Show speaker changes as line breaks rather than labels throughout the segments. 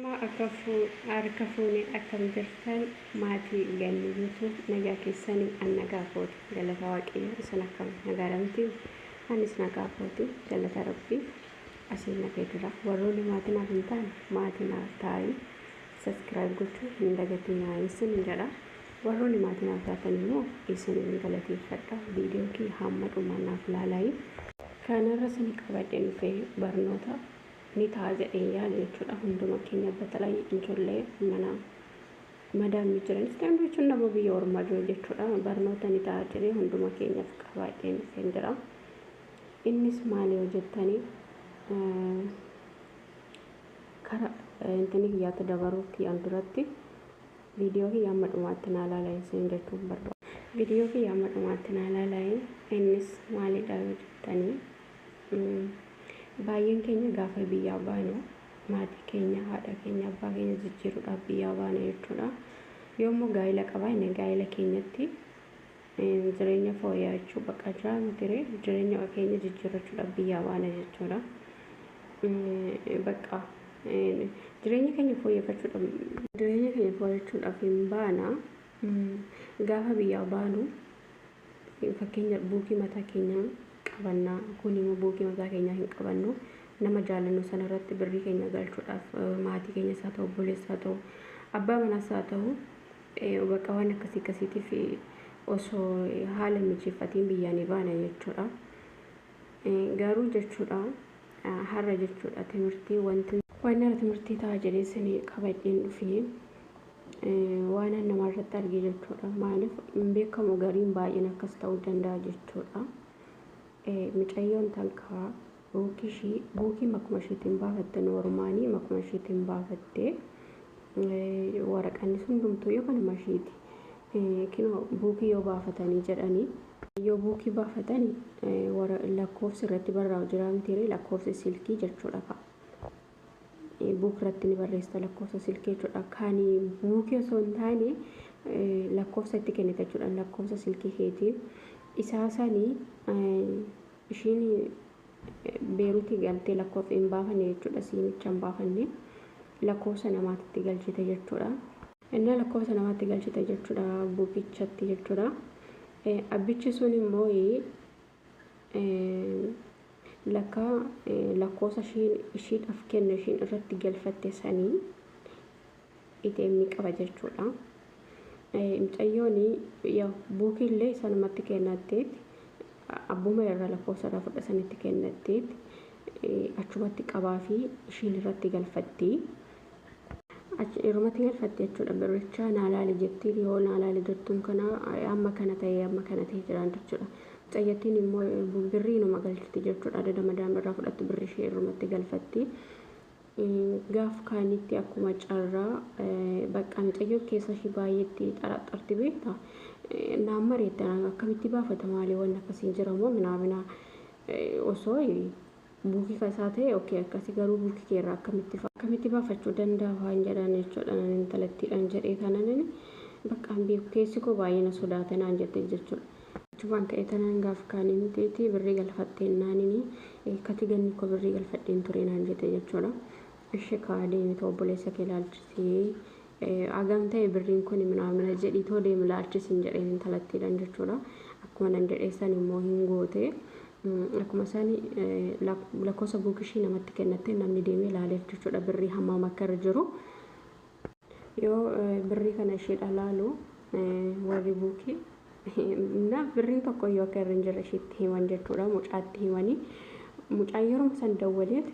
Namaa akka harka fuune akkam jirtan maatii ganni YouTube nagaa keessani an nagaa kooti galata waaqayyo isin akkam nagaadha miti anis nagaa kooti galata rabbii asiin na ga'e jira warroonni maatii naaf hin taane maatii naaf taa'ii subscribe gochuu hin dagatinaa isin jedha warroonni maatii naaf taatan immoo isin hin galateeffadha viidiyoo kee hamma dhumaa naaf laalaayii kanarra sini qabadhe dhufe barnoota ni ta'a jedheen yaada jechuudha hunduma keenya batalay ijoollee mana madaamii jiranis ta'e hunduu jechuun nama biyya ormaa jiru jechuudha barnoota ni ta'a jedhee hunduma keenyaf qabaa deemseen jira innis maali yoo jettanii kara intini kiyyaatti dabaruu kiyyaan duratti viidiyoo kiyya amma dhumaatti naa laala isin jechuun barbaada. Viidiyoo kiyya amma dhumaatti naa laala innis maalidha yoo jettanii Baay'een keenya gaafa biyyaa baanu maatii keenya, haadha keenya, abbaa keenya jijjiiruudhaaf biyyaa baana jechuudha. Yoo immoo gaa'ila qabaanne gaa'ila keenyatti jireenya fooyya'achuu bakka jiraa mitiree jireenya keenya jijjiirrachuudhaaf biyyaa baana jechuudha. Bakka jireenya keenya fooyyeffachuudhaaf jireenya keenya fooyyeffachuudhaaf hin baana gaafa biyyaa baanu Fakkeenya buukii mataa keenyaa qabanna kun immoo buukii mataa keenyaa hin qabannu nama jaalannu sana irratti birrii keenya galchuudhaaf maatii keenya isaa ta'u obboleessaa ta'u abbaa manaa isaa ta'u bakka waan akkasii akkasiitiif osoo haala mijeeffatiin biyyaa ni baana jechuudha. Garuu jechuudha har'a jechuudha timirtii wanti. Waan har'a timirtii ta'a jedhee isin qabadheen dhufee. Waanan nama irratti arge jechuudha. Maaliif hin beekamu gariin baay'een akkas ta'uu danda'a jechuudha. Micayyoon tankaa buukii ishii buukii makuma ishiitiin baafatte noormaanii makuma ishiitiin baafatte waraqanni sun dhumtuu yoo kanuma ishiiti. Kinoo buukii yoo baafatanii jedhanii yoo buukii baafatanii lakkoofsi irratti barraa'u jira mitiiree lakkoofsi silkii jechuudha ka'a. buuk irratti ni barreessita lakkoofsa silkii jechuudha. Kan buukii osoo hin taane lakkoofsa itti kennita jechuudha. Lakkoofsa silkii keetiin isaa sanii ishiin beeruutii galtee lakkoofsa hin baafanne jechuudha. Siimicha hin baafanne lakkoofsa namaatti itti galchite jechuudha. Innaa lakkoofsa namaatti galchite jechuudha buukichatti jechuudha. Abbichi sun immoo Lakka lakkoosa ishiidhaf kenne ishiin irratti galfatte sanii ATM qaba jechuudha. Mucayyoon yaa buukiillee sanumatti kennatteet abbuma irra lakkoosa irra fudha sanitti kennatteet achumatti qabaa fi ishiin irratti galfattii. Achi dhiirumatti galfatte jechuudha birricha naa laali jettiin yoo naa laali jettuun kana amma kana ta'e amma kana ta'e jiraan jechuudha. Mucayyattiin immoo birrii numa galchiti jechuudha adada madaam irraa fudhattu birri ishee irrumatti galfatti. Gaaf kaanitti akkuma carraa bakka mucayyoon keessa ishee baay'eetti xaraxxarti beekta. Naan mareettan akkamitti baafata maalii waan akkasiin jiramoo minaamina osoo Buki ka isaa tahe ok akkasi garuu buki kee irraa akkamitti akkamitti baafachu dandaha waan jedhan jechuudha nan intalattiidhan jedhee tananani bakka hin beeku keessi koo baay'ee na sodaate naan jette jechuudha achumaan ka'ee tanan gaaf kaanii mitiiti birrii galfatteen naanini kati ganni koo birrii galfadheen turee naan jette jechuudha ishi kaa deemita obboleessa kee laalchisii Agam ta'e birriin kuni minaamina jedhii too deemi laalchi siin jedheen intalattiidhan jechuudha. Akkuma nan jedhee san immoo hin goote. Akkuma sani lakkoofsa buukishii namatti kennattee namni deemee laaleef jechuudha birrii hammaam akka irra jiru. Yoo birrii kana ishiidha laalu warri buukii na birrii tokko iyyuu akka irra hin jirre ishiitti himan jechuudha mucaatti himanii mucaan yeroo san dawwaleef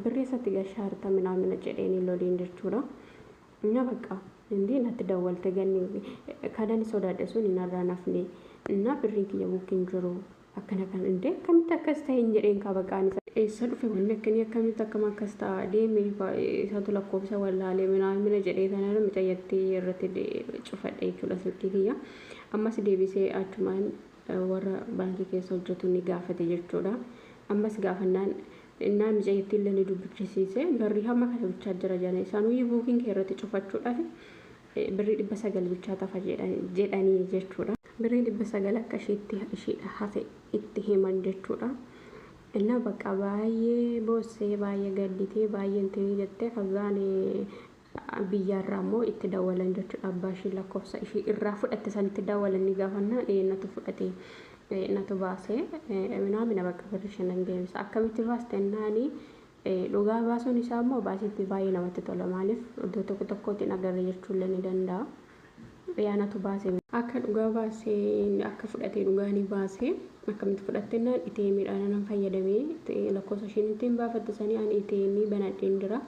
Birrii isatti gashaa harta minaamina jedheeni loliin jechuudha. Na bakka indii natti dawwalte ganni kadani sodaadhe sun hin harraan hafne na birriin kiyya bukkin jiru akkana kan indee akkamitti akkas ta'e hin jedheen kaa baqaan isa. Eessa dhufe wanni akkanii akkamitti akkam akkas ta'a deeme isatu lakkoofsa wallaalee minaamina jedhee tanara micayyatti irratti cufadhe jechuudha silkii kiyya. Ammas deebisee achumaan warra baankii keessa hojjatu ni gaafate jechuudha. Ammas gaafannaan innaa micayittii illee ni dubbichisiise. Barri hamma kana bichaa jira jedhan. Isaanuyyu buukiin kee irratti cufachuudhaaf birrii dhibba sagal bichaa tafa jedhanii jechuudha. Birrii dhibba sagal akka ishiitti ishiidha hafe itti himan jechuudha. Innaa bakka baay'ee boossee baay'ee gadditee baay'ee intinii jettee kazaan biyyaa irraa immoo itti dawalan jechuudha abbaa ishii lakkoofsa ishii irraa fudhatte sanitti dawalanii gaafannaan ee natu fudhate natu baase minaamina bakka birri shanan deemsa akkamitti baaste naani dhugaa baasuun isaa immoo baasitti baay'ee namatti tola maaliif iddoo tokko tokkootiin agarre jechuullee ni danda'a. Ee anatu baase. Akka dhugaa baase akka fudhate dhugaa ni baase akkamitti fudhatte naan ATM dhaan anan fayyadame lakkoofsa isheen ittiin baafatte sanii ani ATM banadheen jira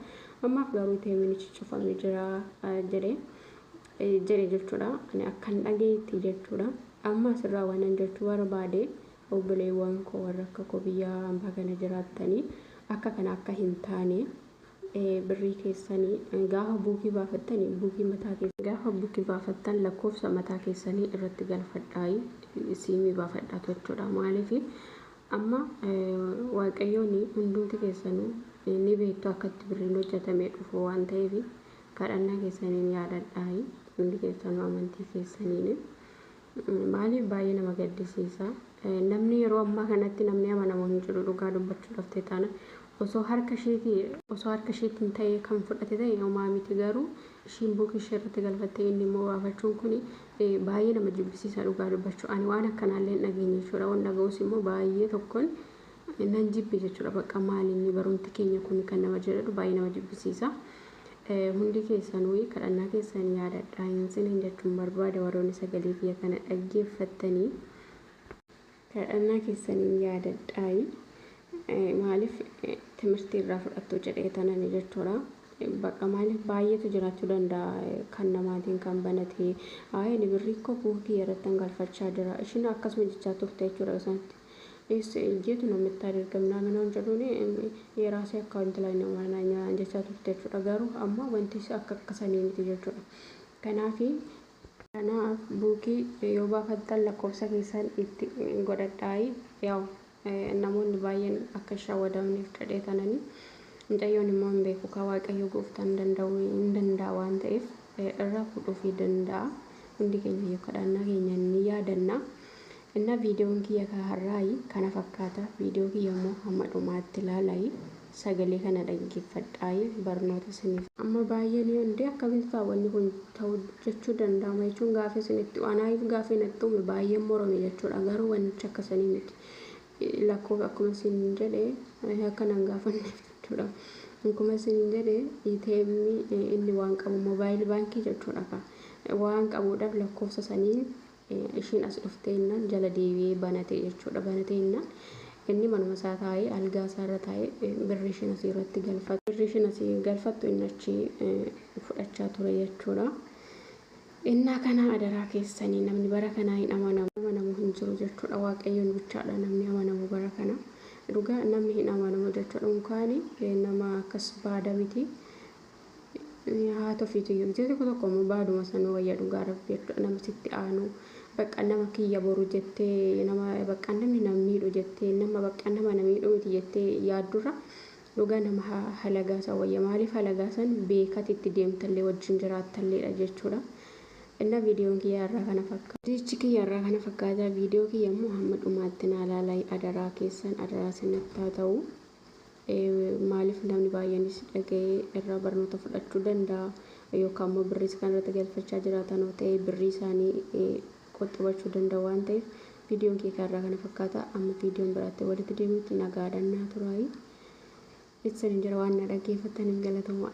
ammaaf garuu ATM nichi cufame jira jedhe jedhe jechuudha ani akkan dhageetti jechuudha amma asirraa waanan jechuu barbaade obboleewwan koo warra akka koo biyya ambaa kana jiraattanii akka kana akka hin taane birrii keessani gaafa buukii baafattani buukii mataa keessani. Gaafa buki baafattan lakkoofsa mataa keessani irratti galfadhaayi siimii baafadhaatu jechuudha maaliif amma waaqayyooni hundumti keessanu ni beektu akka itti birriin hojjatamee dhufu waan ta'eef kadhannaa keessaniin yaadadhaayi hundi keessanu amantii keessaniin Maaliif baay'ee nama gaddisiisa. Namni yeroo ammaa kanatti namni amanamu hin jiru dhugaa dubbachuudhaaf ta'e taana osoo harka ishiiti osoo harka ishiitiin ta'ee kan fudhate ta'e homaa miti garuu ishiin buukii ishee irratti galfattee inni immoo baafachuun kun baay'ee nama jibbisiisa dhugaa dubbachuu ani waan akkanaallee hin dhageenye jechuudha waan dhaga'us immoo baay'ee tokkoon Nan jibbe jechuudha baqqa maali inni barumti keenya kun kan nama jedhadhu baay'ee nama jibbisiisa. Eh, Hundi keessanuu kadhannaa keessan yaadadhaa hin sinin jechuun barbaada warroonni sagalee kiyya kana dhaggeeffattanii. kadhannaa keessaniin yaadadhaayi Eh, maaliif eh, timirtii irraa fudhattuu jedhee tanani jechuudha Eh, bakka maaliif baay'eetu jiraachuu danda'a eh, kan namaatiin kan banatee aayini birrii koo buukii irratti hangalfachaa jira ishiin akkasuma jechaa turte jechuudha yoo sanatti Eessa in jeetu namittaan erga minaamin waan jedhuuni yeeraasii akka intalaa hin amaanaa nyaa jechaa turte jechuudha garuu amma wanti akka akka sanii miti jechuudha kanaafi kanaaf buukii yoo baafattan lakkoofsa keessan itti godhadhaayi yaw namoonni baay'een akka hin shawwadamneef jedhee tanani mucayyoon immoo hin beeku kaa waaqayyo gooftaan danda'u hin danda'a waan ta'eef irraa fuudhuufii danda'a hundi keenya yoo kadhaannaa keenya ni yaadanna Inna videon kiyya ka har'aayi kana fakkaata video kiyya immoo hamma dhumaatti laalaayi sagalee kana dhaggeeffadhaayi barnoota isiniif. Amma baay'ee ni onde akkamitti ta'a wanni kun ta'u jechuu danda'ama jechuun gaafii isinitti anaayif gaafii natti uume baay'een morome jechuudha garuu wannichi akka sanii miti lakkoof akkuma isiniin jedhe akka nan gaafanneef jechuudha akkuma isiniin jedhe ATM inni waan qabu mobaayil baankii jechuudha ka waan qabuudhaaf lakkoofsa saniin ishiin as dhuftee innaan jala deebi'ee banate jechuudha. Banatee innaan inni manuma isaa taa'ee algaa isaa irra taa'ee birri ishiin asii irratti galfattu. Birri ishiin asii galfattu inni achi fudhachaa ture jechuudha. Innaa kanaa adaraa keessanii namni bara kanaa hin amanamu. Amanamu hin jiru jechuudha. Waaqayyoon bichaadha namni amanamu bara kana. Dhugaa namni hin amanamu jechuudha. Unkaani nama akkas baada miti. Haati ofiitiyyuu miti tokko tokko immoo baaduma sanuu wayya dhugaa rabbii jechuudha nama sitti aanu bakka nama kiyya boru jettee nama bakka namni nama miidhu jettee nama bakka nama na miidhu miti jettee yaaddurra dhugaa nama ha- halagaa san wayya maaliif halagaa san beekati itti deemtallee wajjin jiraattalleedha jechuudha inna viidiyoon kiyyaa irraa kana fakkaata. Viidiyichi kiyya irraa kana fakkaata viidiyoo kiyya immoo hamma dhumaatti naa laalaa adaraa keessan adaraa sinatti haa ta'u. Maaliif namni baay'eenis dhaga'ee irraa barnoota fudhachuu danda'a. Yookaan immoo birriis kan irratti galfachaa jiraatan yoo ta'e birrii isaanii qoxxibachuu danda'u waan ta'eef viidiyoon kee kanarraa kana fakkaata. Amma viidiyoon biraatti walitti deemutti nagaadhaan naa turaayi. Itsan hin jira waan na dhaggeeffattan hin galatomaa.